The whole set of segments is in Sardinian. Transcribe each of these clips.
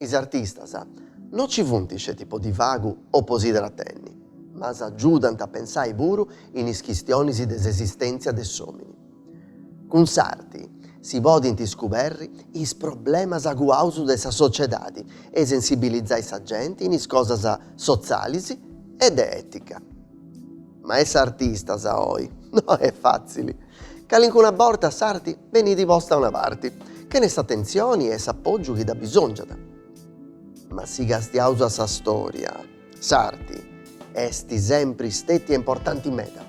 Is artistas no nci funt sceti po divagu o po si tratenni, ma s'agiudant a pensai puru in is chistionis de s'esistèntzia de s'òmini. Cun s'arti si podint iscuberri is problemas aguaus de sa sociedadi e sensibilizai sa genti in is cosas sotzalis e de ètica. Ma essi artistas oi? No est fàtzili. Calincuna borta s'arti benit posta a una parti, chene s'atentzioni e s'apogiu chi dda bisongiat. Ma si castiaus a sa storia, S'arti est sempri stètia importanti meda,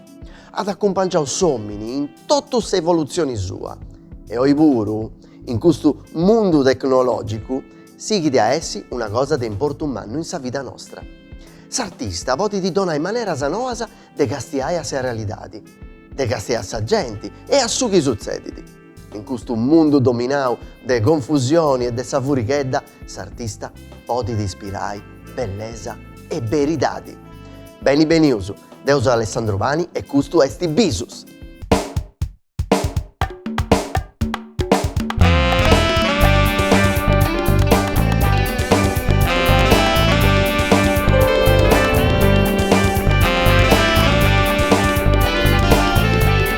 at acumpangiau s'òmini in totu s'evolutzioni sua e oi puru in custu mundu tecnològicu sighit a essi una cosa de importu mannu in sa vida nostra. S'artista podit donai maneras noas de castiai a sa realidadi, de castiai a sa genti e a su chi sutzedit. In custu mundu dominau de confusioni e de sa furighedda, s'artista podit ispirai bellesa e beridadi. Beni benius! Deu seu Alessandro Pani e custu est Bisus!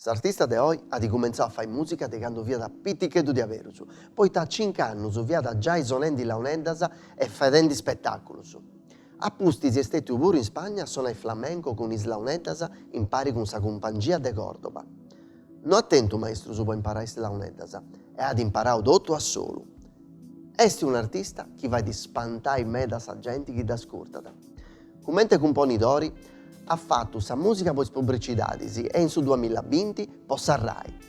S'artista de oi at cumentzau a fai mùsica de candu fiat piticheddu diaberus, poita a cincu annus fiat giai sonendi launeddas e fadendi ispetàculus. A pustis est stètiu puru in Spagna a sonai flamenco cun is launeddas impari cun sa cumpangia de Còrdoba. No at tentu maestrus po imparai is launeddas e at imparau totu a solu. Est un'artista chi fait spantai meda sa genti chi dd'ascurtat. Cumente cumponidori at fatu sa mùsica po is publicidadis e in su duamilla binti po sa Rai.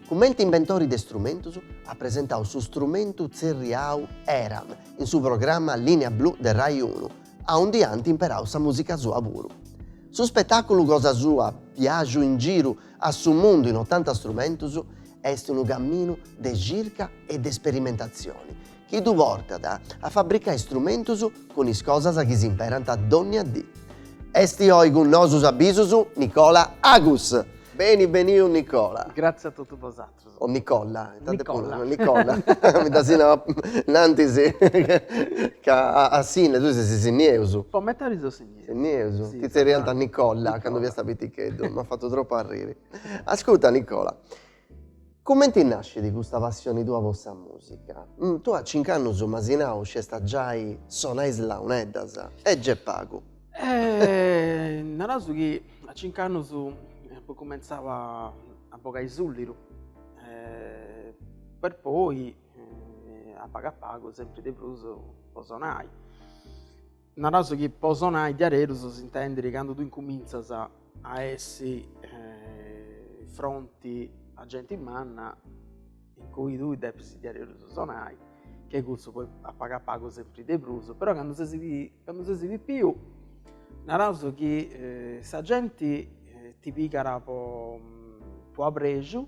Cumente imbentori de strumentus at presentau su strumentu tzerriau Eram in su programma Linea Blu de Rai Unu, aundi ant imperau sa mùsica sua puru. Su spetàculu cosa sua, Biàgiu in giru a su mundu in otanta strumentus est unu caminu de circa e de sperimentatzioni chi ddu portat a fabricai istrumentus cun is cosas chi s'imperant dònnia dì. Esti oi cun nosus a Bisus Nicola Agus. Beni beniu Nicola. Gratzi a totu bosatrus. O Nicolla. Nicolla. Nicolla. Mi dd'as nau innantis ca a Sìnnia, tui sesi sinniesu. Po metadi seu sinniesu. Sinniesu. Ti tzerriant Nicolla candu fiasta piticheddu. M'at fatu tropu arriri. Ascurta Nicola, Cumenti nascit custa passioni tua po sa musica? Tui a cinc'annus m'asi nau sciast giai sonai is launeddas, e gei est pagu. Naraus chi a cinc'annus apu cumentzau a a bogai suliru, per poi a pagu a pagu sempri de prus po sonai. Naraus chi po sonai diaredus s'intendit candu tui incumintzas a essi eh, fronti a genti manna in cui tui depis diaredus sonai, che cussu poi a pagu a pagu sempri de prus, però candu ses candu ses pipiu naraus chi sa genti ti pigat po apreju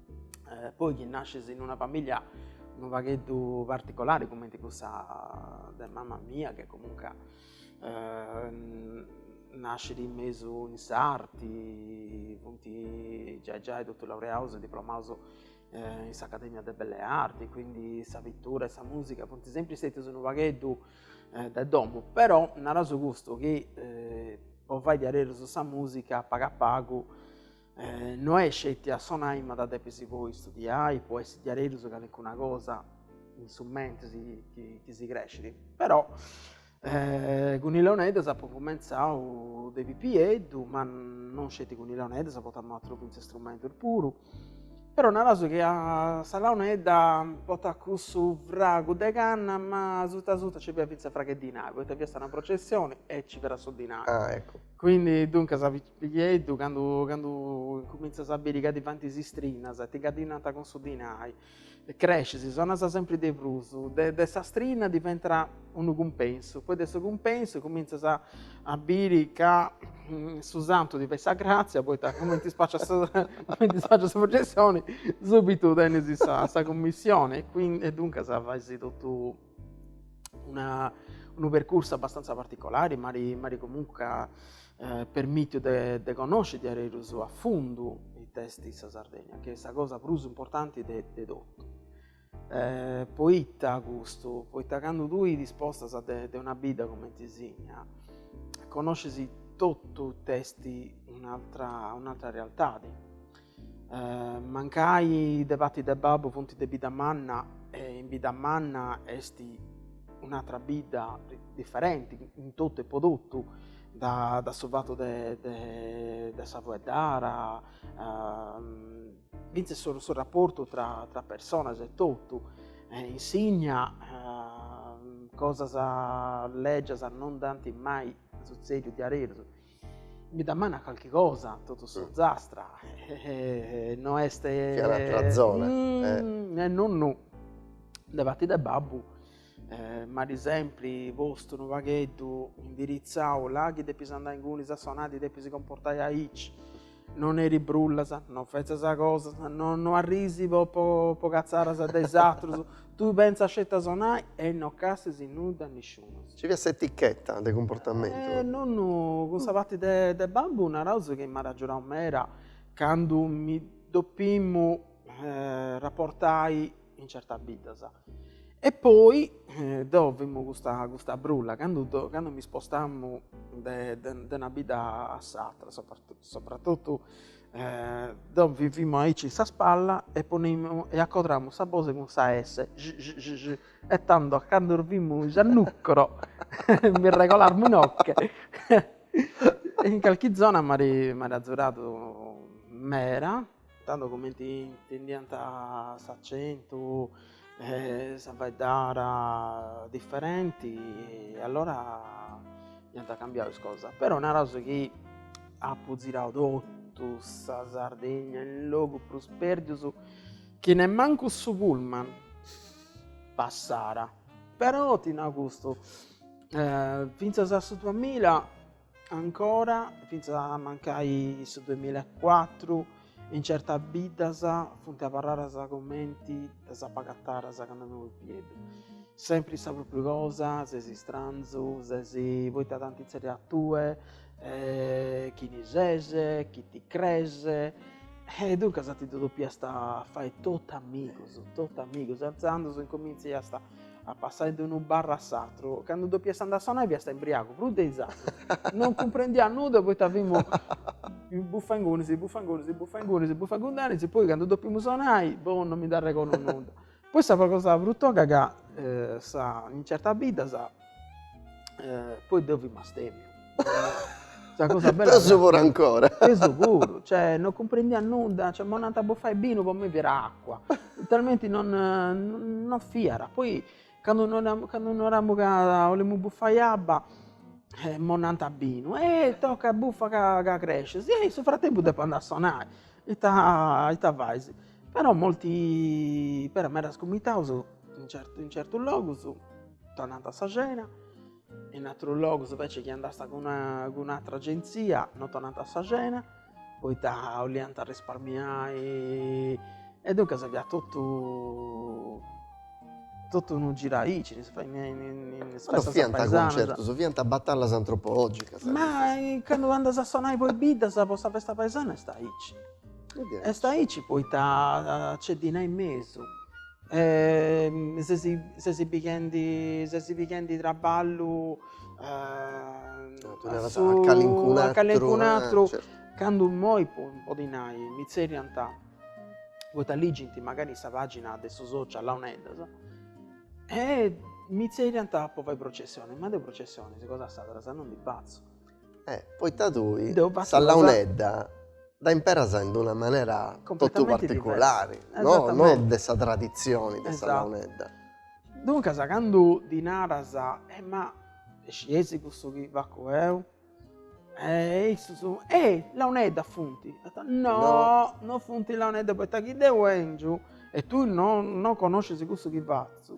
eh, poi chi nasces in una famiglia un pagheddu particolare come di cussa de mamma mia che comunque eh, nascere in mesu in sarti, punti già già e tutto laureato e diplomato eh, in s'Accademia de Belle Arti, quindi sa pittura e sa musica, punti sempre stati un pagheddu eh, de domo, però naraso gusto che eh, o fai di arreroso sa musica paga pago Eh, no est sceti a sonai ma dda depis poi studiai, po essi diaredus calincuna cosa in su mentris chi, chi si crescit, però eh, cun is launeddas apu cumentzau de pipieddu, ma non sceti cun is launeddas, portamu atrus fintzas istrumentus puru, però naraus chi sa launedda portat cussu fragu de canna, ma suta suta nci fiat fintzas fragu 'e dinai, poita fiat una processioni e nci fiat su dinai. Ah eccu Quindi duncas pipieddu candu, candu incumintzas a biri ca ti faint is istrinas e ti carìnniant cun su dinai, crescis, sonas sempri de prus, de de sa strina diventat unu cumpensu, poi de su cumpensu cumintzas a a biri ca su santu ti fait sa gratzia poita cumenti spacias su cumenti spacias sa processioni subitu tenis sa sa cummissioni e duncas faisi totu una, unu percursu abbastanza particolari, ma m'at comunque eh, permitiu de, de connosci diaredus a fundu it'est sa Sardegna, chi est sa cosa prus importanti de, de totu. Eh, poita custu? Poita candu tui ti spostas de, de una bidda cumenti Sìnnia, connoscis totu it'est un'altra, un'altra realtadi Mancai de parti de babbu funt de Biddamanna e in Biddamanna est un'atra bidda diferenti in totu e po totu, da da su fatu de de de sa fueddara fintzas su su rapportu tra tra personas e totu e in Sìnnia cosas leggias non nd'ant mai sutzediu diaderus Biddamanna calchi cosa totu s'Ozastra e no est che un'altra zona mm, eh. e nonnu de parti de babbu eh, m'at sempri postu unu pagheddu indiritzau là chi depis andai ingunis a sonai, ti depis comportai aici No neris brullas, no fetzas cosas, no no arrisi po po po catzaras de is atrus, tui pentza sceti a sonai e no cassis in nudda a nisciunus. Nci fiat s'etichetta de cumportamentu. E nonnu cun sa parti de de babbu naraus chi m'at agiudau meda candu mi dopimmu rapportai in certas biddas. E poi eh, deu fimu custa, custa brulla, cando, do, cando mi spostamu de, de, de una bidda a s'altra, soprattutto eh, deu fimu aici in sa spalla e, ponimu, e accodramu sa bose cun sa S, j, j, j, j, e tando cando fimu a Nùgoro mi regolamu inoche. in calchi zona m'at azuradu mera, tando cumenti intendiant s'acentu e sa faeddara diferenti e allora iant cambiadu is cosas, però naraus chi apu zirau totu sa Sardigna in logus prus perdius chi nemmancu su pullman passara, però ti nau custu finzas a su duamilla Ancora, fintzas a mancai su duemilla e cuatru, in certas biddas funt abarradas comenti ddas apu agataras candu fimu pipieddu. Sempri sa propriu cosa, ses istranzu, ses poita t'ant tzerriau a tue, chini ses, chi ti crees, e duncas ti ddu depiast fai totu amigus, totu amigus, intzandus incomintzaiast a passai de unu barru a s'atru, candu dopiast andai a sonai fiast imbriagu prus de is atrus, non cumprendiat nudda poita fimus buffa ingunis, buffa ingunis, buffa ingunis, buffa ingundanis, poi candu dopimu sonai, boh, non mi nd'arregordu nudda. Poi sa cosa prus toga ca in certas biddas eh, poi deu fimu astemiu. Sa cosa bella Peus puru ancora. Peus puru, cioè non comprendia nudda, cioè m'onant a buffai binu po me fiat acqua. Talmenti non, non fiat. Poi candu no, candu naramu ca 'olemu buffai abba e m'onant binu, eh tocca buffa ca, ca crescis, e in su frattempu depu andai a sonai, ita, ita fais Però molti, però medas cumitados in certu in certus logus t'onant sa cena, in atrus logus invece chi andast cun un'atra agenzia non t'onant sa cena, poita 'oliant risparmiai e duncas fiat totu totu unu giru aici, si faghiat in is festas paesanas. Ma non fiant concertus, fiant batallas antropologicas. Ma candu andas a sonai po is biddas, po sa festa paesana est aici Est aici poita nc'est dinai in mesu e ses ses pighendi ses pighendi traballu a su a calincun'atru candu immoi podi nai mi tzerriant poita ligint mancari in sa pagina de su social launeddas e mi tzerriant po fai processionis ma deu processionis cosas sardas non ndi fatzu E poita tui sa launedda dda imperas in una manera totu particulari, no no de sa traditzioni de sa launedda. Duncas candu ddi naras, e ma e scieis cussu chi facu eu, e issus, e launeddas funt, no no funt launeddas poita chi deu 'engiu e tui no no connoscis cussu chi fatzu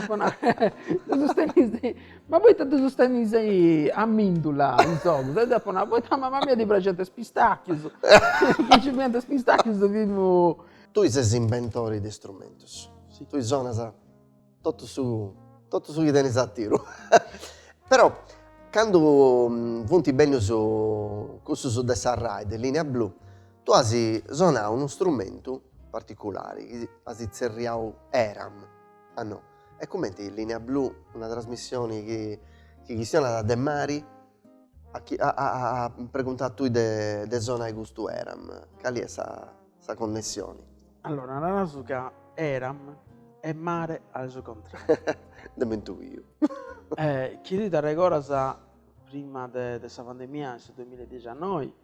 Apo nau, filipinu, ma poita ddus tenis a mìndula is ogus? E deu apu nau, poita a mama mia ddi praxint is pistàchius, chi nci fiant is pistàchius ddu fimus. Tui ses inventori de istrumentus, tui sonas totu su totu su chi tenis a tiru. Però candu funt bènnius cussus de sa Rai, de Linea Blu Tu as sonau unu strumentu particulari chi as tzerriau Eram, a no, e cumenti Linea Blu, una trasmissioni chi chi chistionat de mari at preguntau a tui de sonai custu Eram, cali est sa sa connessioni? Allora naraus ca Eram est mari a su contrariu. Dd'emu intuiu. Chi ti t'arregoras Prima de sa pandemia in su duamilla e dixiannoi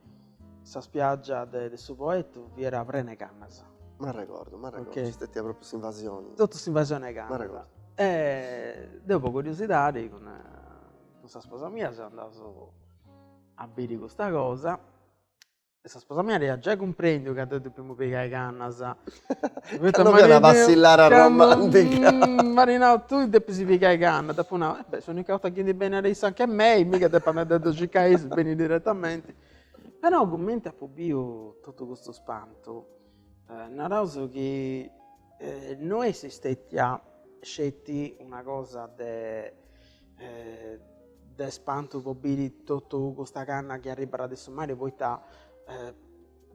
sa spiaggia de su Poettu fiat prena 'e cannas. M'arregordu, m'arregordu, nc'est stetia propriu s'invasioni. Totu s'invasioni 'e cannas. E deu po curiosidadi cun sa sposa mia seus andaus a biri custa cosa E sa sposa mia aiat giai cumprendiu ca deu depiamu pigai cannas. Poita ca no fiat una passillara romantica. M'at nau, tui depis pigai cannas. Dd'apu nau, e beh, s'unica 'orta chi ndi benit issa anch'e mei, miga depu andai a ddu circai a issu, benit diretamenti. Però cumenti apu biu totu custu spantu, naraus chi no est stetia sceti una cosa de eh, de spantu po biri totu custa canna chi arribara de su mari poita eh,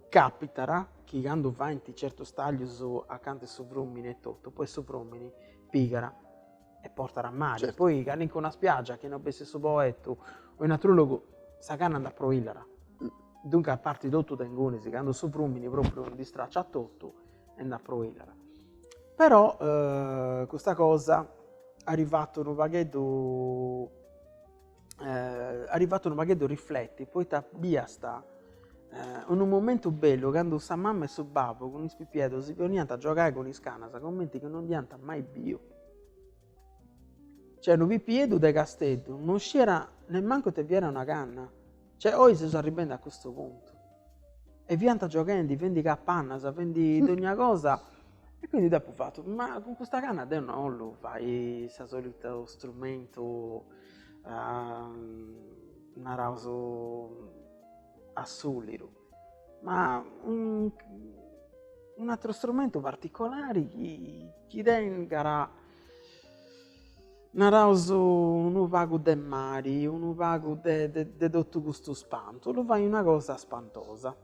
capitara chi candu faint certus taglius acanta 'e su frumini e totu poi su frumini pigara e portara a mari certo. poi calincuna spiaggia chi no fessit su Poetu o in atru logu sa canna nd'aproillara mm. duncas partit totu de ingunis candu su frumini propriu ndi stracciat totu e nd'at proinat. Però eh, custa cosa at fattu unu pagheddu eh, at fattu unu pagheddu rifletti, poita biast eh, unu momentu bellu candu sa mamma e su babbu cun is pipieddus si poniant a giogai cun is canas cumenti chi non dd'iant mai biu. Cioè unu pipieddu de Casteddu non sciera nemmancu ite fiat una canna. Cioè oi seus arribendi a custu puntu e fiant gioghendi, fendi capannas, fendi dogna cosa e quindi deu apu fatu, ma cun custa canna deu no 'ollu fai su solitu strumentu naraus a suliru, ma un'ateru strumentu particolari chi chi tengat Naraus unu pagu de mari, unu pagu de totu custu spantu, 'ollu fai una cosa spantosa.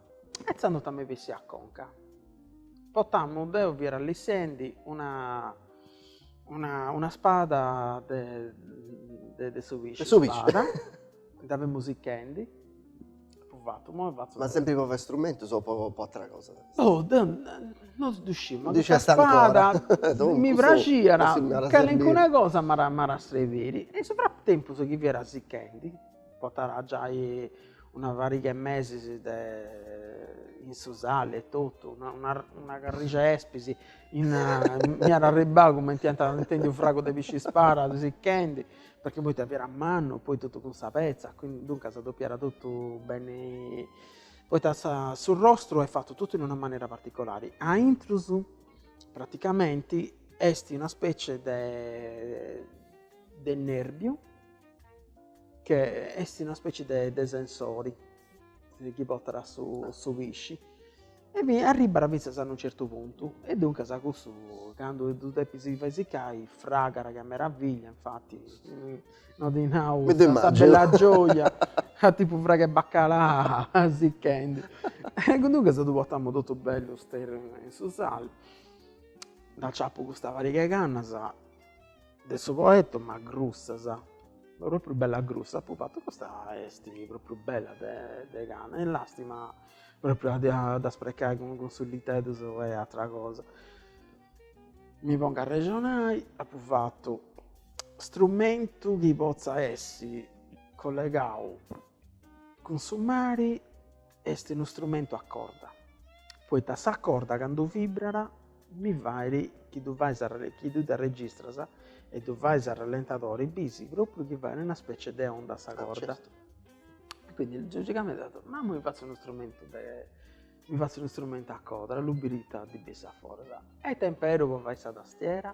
E tzandus ita m'est bessiu a conca. Portamu, deu fia allissendi una una spada de su pisci, de su pisci, spada, dda femu sichendi Apo fatu, imoi fatzo. Ma sempri po fai strumentos o po po attera cosa? Oh deu no ddu sciu, ma custa spada mi praxiat, calincuna cosa m'at a srerbiri. E in su fratempus chi fiat sichendi, portat giai una pariga 'e mesis de in su sali e totu, una una una carrixi 'e espis m'iat arribbau cumenti ant intendiu fragu de pisci spada sichendi perche poita fiat mannu poi totu cun sa petza, duncas dopiat totu beni, poita sa su rostru est fatu totu in una manera particolari, a intrus praticamenti est una specie de de nerbiu che est una specie de sensori chi portat su pisci E mi arribara fintzas a unu certu puntu, e duncas a cussu candu ddu depis fai sicai, fragara ca meraviglia, infati no ti nau sa bella gioja a tipu fragu 'e baccalà sichendi. E duncas ddu portamu totu bellu sterriu in su sali, dd'aciapu custa pariga 'e cannas De su Poetu ma grussas. Propriu bella grussa apu fatu custa est propriu bella de de canna, est lastima propriu a dda sprecai cun cun suliteddus e atra cosa. Mi pongu a arrexonai apu fatu strumentu chi potza essi collegau cun su mari est unu strumentu a corda, poita sa corda candu vibrat mi fait chi ddu fais a ralle chi ddu dda registras e ddu fais a rallentadori bisi propriu chi fait una specie de onda sa corda, quindi logicamente apu certu, ma ma mi fatzu unu strumentu de mi fatzu unu strumentu a codra, 'ollu biri ita ndi bessit a foras, e t'imperu po fai sa tastiera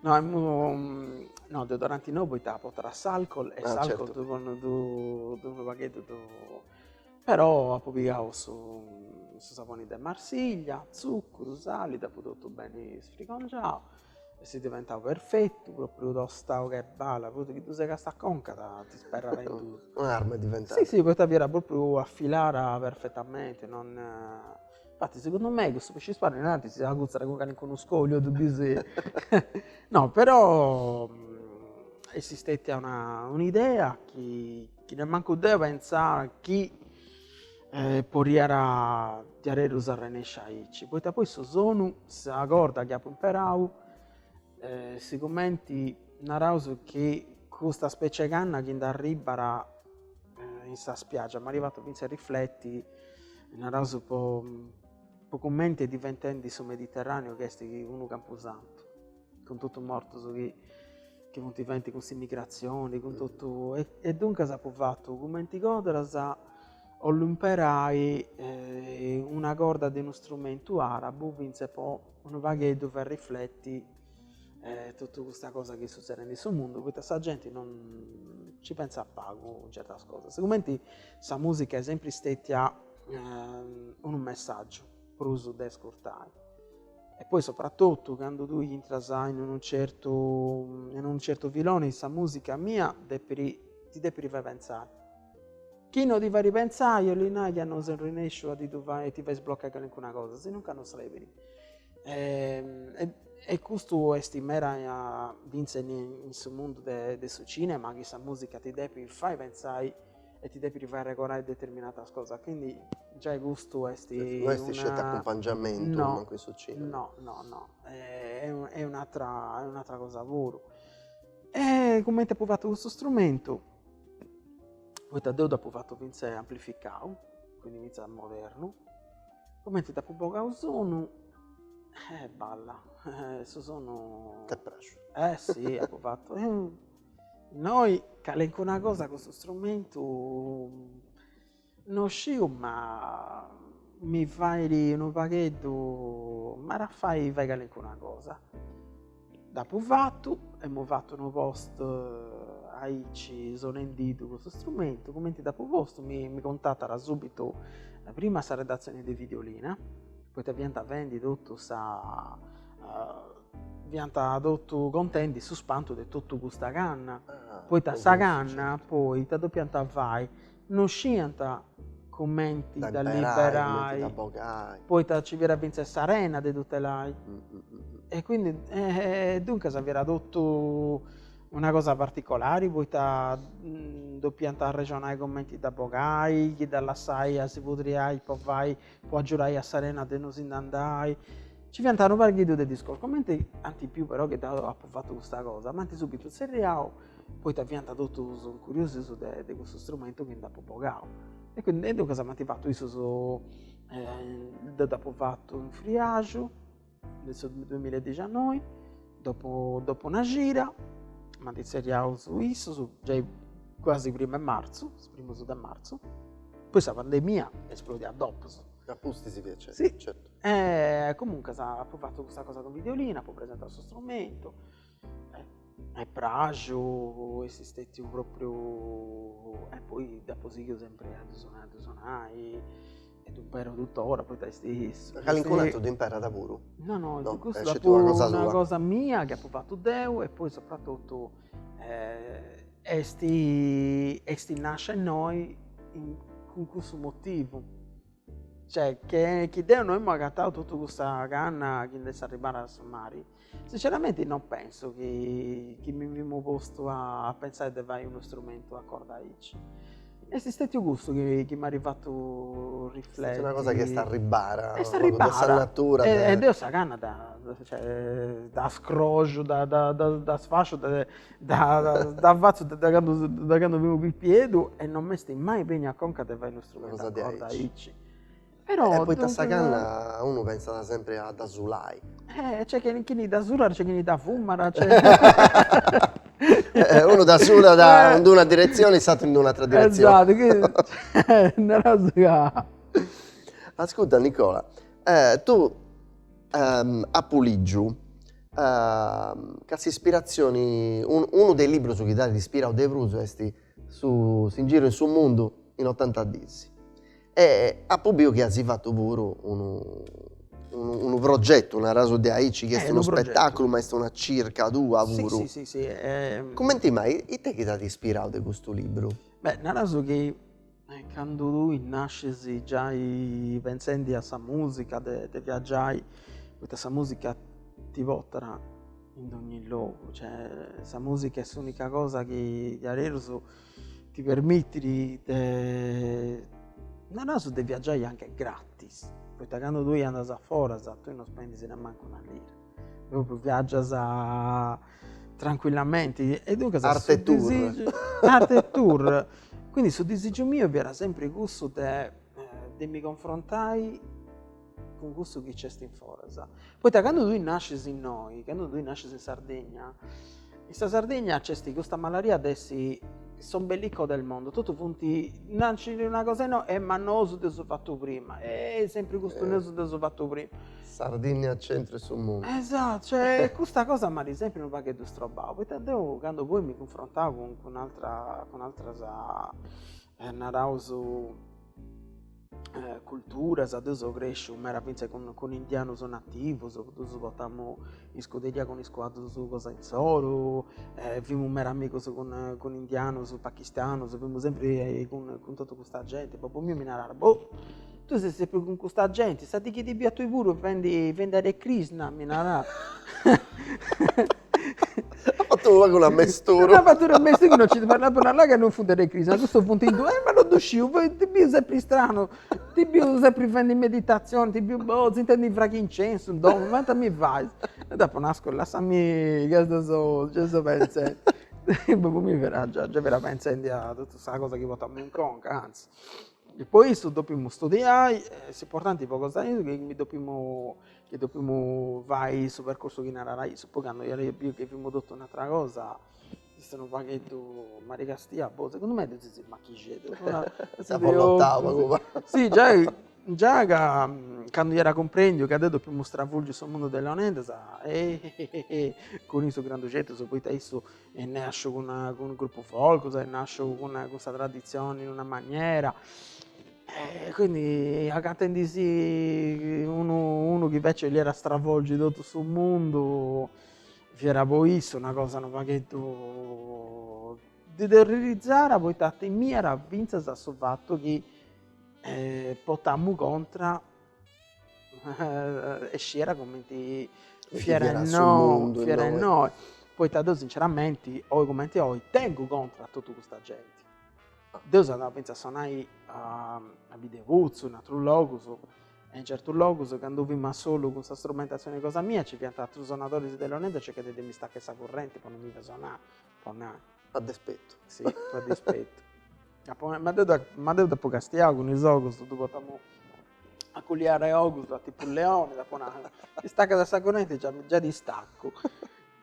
No, no, deodoranti no poita portat s'alcol e ah, s'alcol certo. ddu ddu unu pagheddu ddu però apu pigau su su saboni de Marsiglia, tzuccuru, sali, dd'apu totu beni sfrigongiau e s'est diventau perfettu, propriu tostau che bala, propriu chi ddu segas a conca ta ti sperrat in duus. Un'arma diventat. Si, si, poita fiat propriu afilada perfetamenti, non Infatti segundu mei cussu piscispada innantis si agutzat cun calincunu scoliu e ddu bis no però est stetia una un'idea chi chi nemmancu deu pentzà chi podiat diaderus arrennesci aici poita poi su sonu sa corda chi apu imperau sigumenti naraus chi custa specie 'e canna chi nd'arribbat eh, in sa spiaggia, m'ari fattu finza a rifletti, naraus po, po cumenti est diventendi su Mediterraneo chi esti unu campusantu, cun tuttu mortus chi, chi funti fendi cun s'immigrazioni, cun tuttu, e, e duncas apu fattu cumenti codras 'ollu imperai eh, una corda de unu strumentu arabu finza po unu pagheddu fai rifletti e totu custa cosa chi est sutzedendi in su mundu, poita sa genti non nci pentzat pagu in certas cosas, sigumenti sa musica est sempri stetia unu messaggiu prus de ascurtai, e poi sopratotu candu tui intras in unu certu in unu certu filoni sa musica mia depiri ti depiri fai pentzai, chi no ti fait pentzai 'olli nai chi no ses arrennesciu a ti ddu fai a ti fai sbloccai calincuna cosa, sinunca no srebiri E custu est meda finzas in su mundu de su cinema chi sa musica ti depit fai pentzai e ti depit fai arregorai determinatas cosas quindi giai custu est no est isceti acumpangiamentu mancu in su cinema no no no est un'atra est un'atra cosa puru e cumenti apu fatu custu strumentu poita deu dd'apu fatu finzas amplificau quindi finzas modernu Cumenti nd'apu bogau sonu, eh balla, su sonu. T'est praxiu. Eh si, apu fatu, innoi calincuna cosa cun su strumentu no sciu ma mi fait unu pagheddu, m'at a fai fai calincuna cosa Dd'apu fatu, emu fatu unu post aici sonendidu custu strumentu, cumenti dd'apu postu mi cuntatat subitu prima a sa redatzioni de Videolina, poita fianta fendi totu sa fianta totu contendi su spantu de totu custa canna, poita sa canna poita dopianta fai Non sciant cumenti dda liberai, poita ci fiat fintzas s'arena de tutelai. E quindi, e duncas fiat totu una cosa particolari, poita dopiant arrexonai cumenti dda bogai, chi dda lassai a si pudriai po fai, po agiudai a s'arena de no si ndi andai. Ci fiant unu pagheddu de discorsus, cumenti anti biu però chi deu apu fatu custa cosa, m'ant subitu tzerriau poita fiant totus curiosus de de cussu strumentu chi nd'apu bogau e quindi e duncas m'ant fatu issus deu dd'apu fatu in Friaxu de su duemilla e dixannoi dopu dopu una cida m'ant tzerriau issus giai quasi primu 'e marzu is primus de marzu poi sa pandemia esplodiat dopus e a pustis si fiat si e comuncas apu fatu custa cosa cun Videolina apu presentau su strumentu m'est praxiu est stètiu propriu e poi d'apo sighiu sempre a ddu sonai a ddu sonai e ddu impero tuttora poita est sa calincunu aturu ddu imperat puru? No no no custu est una cosa mia chi apo fatu deu e poi sopratotu est est nascia innoi cun cussu motivu cioè che chi deu no emu agatau totu cussa canna chi nd'est arribada a s'e mari Sinceramente non penso chi, chi mi femu postu a, a pensare de fai unu strumentu a corda aici. Est istetiu custu chi, chi m'at fatu rifleti. Est una cosa chi est arribbada. Est arribbada. De sa natura. E, e deo sa canna da, cioè, da scroxu, da, da, da sfasciu, da, da, da fatzu de candu, de candu femu pipiedhu e non m'est mai beniu a conca de fai unu strumentu a corda aici. Però E duncas poita sa canna unu pensat sempre a dda sulai. Eh nc'est chini chini dda sulat, nc'est chini dda fumat Unu dda sulat in d'una diretzione e s'atteru in d'un'atra diretzione Esatto Naras ca Ascurta Nicola tu apu ligiu ca s'ispiratzioni, unu de is libbrus chi t'at ispirau de prus est su S'ingiriu in su mundu in otanta diis. E apo biu chi azis fatu puru unu unu progetu, naraus de aici, chi est unu spettaculu ma est una circa tua puru. Si si si si Cumenti mai, ite chi t'at ispirau de custu libru? Beh, naraus chi candu tui nascis giai pentzendi a sa musica de de viaggiai, poita sa musica ti portat in dogni logu, cioè sa musica est s'unica cosa chi diaderus ti permitit de naraus de viaggiai anche gratis, poita candu tui andas a foras tui non spendis nemmancu una lira, propriu viaggias tranquillamenti e duncas arte tour arte tour, quindi su disigiu miu fiat sempri cussu de de mi confrontai cun cussu chi c'est in foras, poita candu tui nascis innoi, candu tui nascis in Sardegna, in sa Sardegna c'est custa malaria de essi s'ombelico del mondo, totu funt, nascit una cosa innoi, eh ma nosu dd'eus fatu prima, eh sempri custu nosu dd'eus fatu prima. Sardigna al centro 'e su mundu. Esattu, cioè custa cosa m'at sempri unu pagheddu strobau, poita deu candu poi mi cunfrontau cun cun atera cun ateras naraus culturas, deu seu cresciu meda fintzas cun cun indianus nativus, ddus portamu in scuderia cun is cuaddus cosa insoru e fimu meda amigus cun cun indianus, pachistanus, fimu sempri cun cun totu custa genti, babbu miu mi narat, boh tui ses sempri cun custa genti, sa dì chi ti biu a tui puru fendi fendi Hare Krishna mi narat At fatu pagu unu amesturu. At fatu unu amesturu chi non nci parlat prus nai ca non funt Hare Krishna. Ma cussus funt indù. Ma non ddu sciu, ti biu sempri stranu, ti biu sempri fendi meditazioni, ti biu bozu, intendu fragu 'e incensu in domu, ma ita mi fais? E dd'apu nau, ascurda, lassami ca dda seu, gei seu pentzendi. Imui mi fera, gei femu pentzendi a totu sa cosa chi portamu in conca, antzis. Po issu depemu studiai e s'importanti po cosa is, mi depemu chi depemu fai su percorsu chi narara issu, poi candu iat biu chi fimu totu un'atera cosa, s'istat unu pagheddu marigastìa, boh segundu mei ddus is machixeddus sa bollottau pagu pagu, si giai già ca candu iat cumprendiu ca deu depemu stravolgi su mundu de is launeddas cun is grandu progettus poita issu est nasciu cun cun gruppus folcus est nasciu cun cun sa traditzioni in una maniera e quindi agatendisi unu unu chi invece boliat stravolgi totu su mundu fiat po issu una cosa unu pagheddu ddu terrorizzàt poita timiat finzas a su fattu chi portamu contra e sciera cumenti fiera innoi fiera innoi poita deu sinceramenti oi cumenti oi tengu contra a totu custa genti deu seu andau finzas a sonai a Biddeputzu in atrus logus e in certus logus candu fimu solu cun sa strumentatzioni cosa mia ci fiant atrus sonadoris de launeddas e circànt de mi istacchai sa currenti po no mi fai sonai po nai a dispetu sì po dispetu Ma deu da ma deu dd'apu castiau cun is ogus, deu portamu a culiare ogus a tipu leoni, dd'apu nau, istacadda sa correnti già già t'istacu.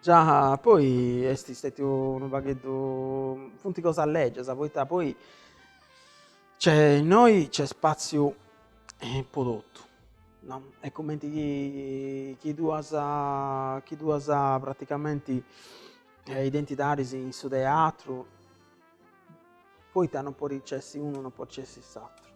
Già poi est stètiu unu pagheddu, funt cosas lègias, poita poi nc'est innoi nc'est spàtziu po totu, no, est cumenti chi chi tui as chi tui as praticamenti identidaris in su teatru poita non podit nc'essi unu non podit nc'essi s'aturu.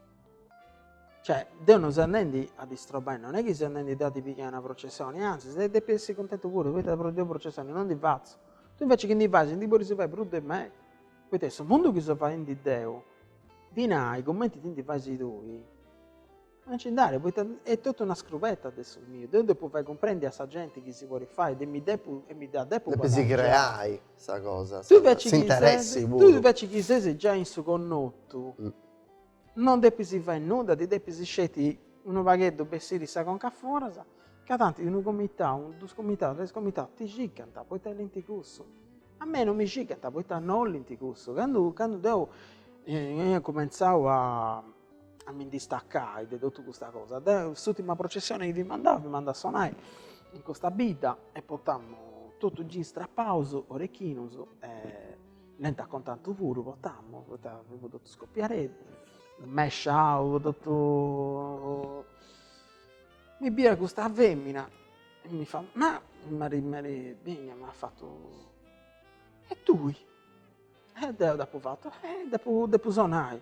Cioè, deu non seu andendi a ddi strobai, non est chi seu andendi deu a ddi pigai una processoni, anzis deu depu essi cuntentu puru, poita deu processoni non ndi fatzu, tui invece chi ndi fais ndi podis fai prus de mei, poita in su mundu chi seu faendi deu, dinai cumenti ti ndi fais tui Non nci nd'at, poita est totu una scrubeta de su miu. Deu depu fai cumprendi a sa genti chi si podit fai e mi depu e mi dda depu guadangiai. Depis creai sa cosa, s'interessi puru. Tui inveci chi ses giai in su connotu, non depis fai nudda, ti depis sceti unu pagheddu bessiri sa conca a foras, ca tanti unu comitau, dus comitau, tres comitau ti cicant, poita olint cussu. A mei non mi cicant, poita non olint cussu. Candu candu deu cumentzau a a mi ndi staccai de totu custa cosa, deu s'ùtima processione chi fimu andau, fimu andau a sonai in custa bidda e portamu totu jeans strapaus, orechinos e lenti a contatu puru portamu, poita fimu totu scopiadeddu, mesciau totu, mi biia custa femina e mi fait, ma m'at m'at benia m'at fatu, e tui? E deu dd'apu fatu, eh depu sonai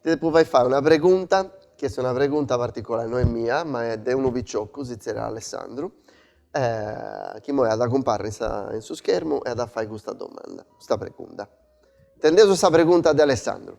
Ti depu fai fai una pregunta, chi est una pregunta particolari, no est mia, ma est de unu picioccu, si zerriat Alessandru, chi immoi at a cumparri in sa in su schermu e at a fai custa domanda, custa pregunta. Intendeus a sa pregunta de Alessandru.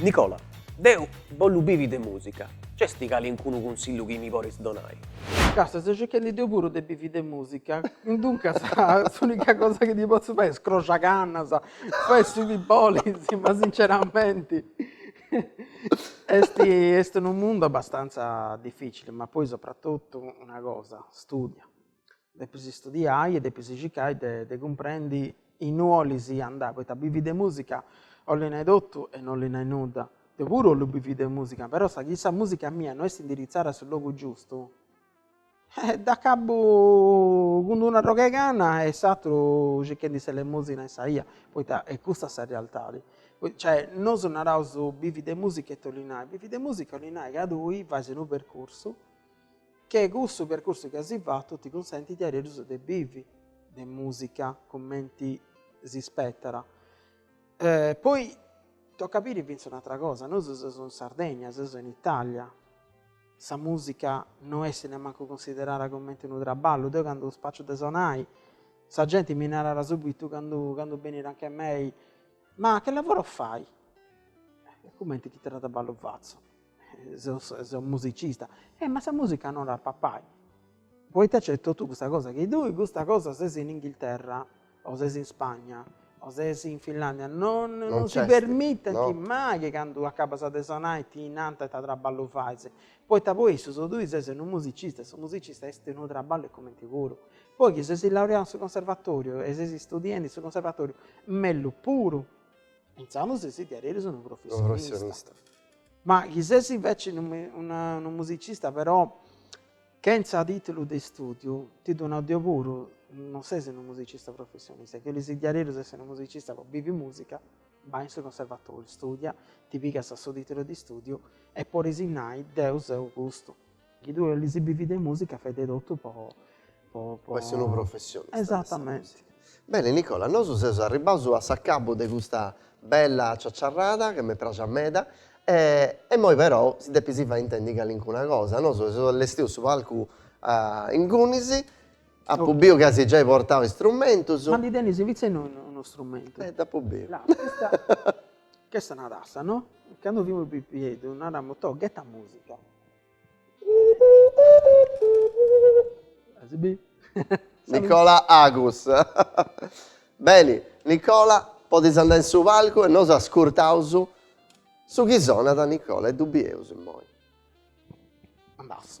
Nicola, Deu bollu bivi de musica, nc'est calincunu cunsillu chi mi poris donai? Càstia, seu circhendi deu puru de bivi de musica, duncas s'unica cosa chi ti potzu fai est scroxai cannas, fai su chi bolis, ma sinceramenti Est, est unu mundu abbastantza dificili, ma poi sopratotu una cosa, studia. Depis studiai e depis circai de de cumprendi innui 'olis andai, poita bivi de musica 'olli nai totu e no 'olli nai nudda. Deu puru 'ollu bivi de musica, però sa chi sa musica mia no est indirizzada in su logu giustu Dd'acabbu cun d'una rogheganna e aturu circhendi s'elemosina in sa 'ia, poita est custa sa realtadi. Cioè nosu naraus bivi de musica e tolli nai, bivi de musica 'olli nai ca tui fais unu percursu che cussu percursu chi asi fatu ti cunsentit de averus de bivi de musica cumenti si spetat. Poi tocat a biri finzas un'atra cosa, nosu seus in Sardegna, seus in Italia Sa mùsica no est nemmancu cunsiderada cumenti unu traballu. Deu candu spaciu de sonai, sa genti mi narat subitu, candu candu benit anche mei, Ma che lavoro fai? Cumenti ita traballu fatzu? Seus seu musicista. Eh ma sa mùsica no dat a papai. Poita nc'est totu custa cosa chi tui custa cosa ses in Inghilterra o ses in Spagna o ses in Finlandia non non si permitent mai chi candu acabas de sonai ti nant ita traballu fais, poita po issus tui ses unu musicista e su musicista est unu traballu e cumenti puru, poi chi ses laureau in su conservatoriu e ses studiendi in su conservatoriu mellus puru, insaras ses diaderus unu professionista, ma chi ses inveci unu musicista però Chentza tìtulu de istùdiu, ti ddu nau deu puru, non ses unu musicista professionista, chi 'olis diaderus essi unu musicista po bivi mùsica, bai in su conservatòriu, istùdia, ti pigas su tìtulu de istùdiu e podis nai, deu seu custu. Chi tui 'olis bivi de mùsica fai de totu po po essi unu professionista. Esatamenti. Beni Nicola, nosu seus arribbaus a s'acabu de custa bella ciaciarrada, chi m'est praxa meda, e immoi però si depis fai intendi calincuna cosa, nosu seus allestiu su palcu ingunis, apu biu ca as giai portau istrumentus. Ma dd'e tenis fintzas unu strumentu? Eh dd'apu biu. Custa est una tassa no, candu fimus pipiedhus naramus, toh gheta musica. Nicola Agus Beni Nicola podis andai in su palcu e nosu ascurtaus su chi sonat Nicola e ddu bieus immoi. Andaus.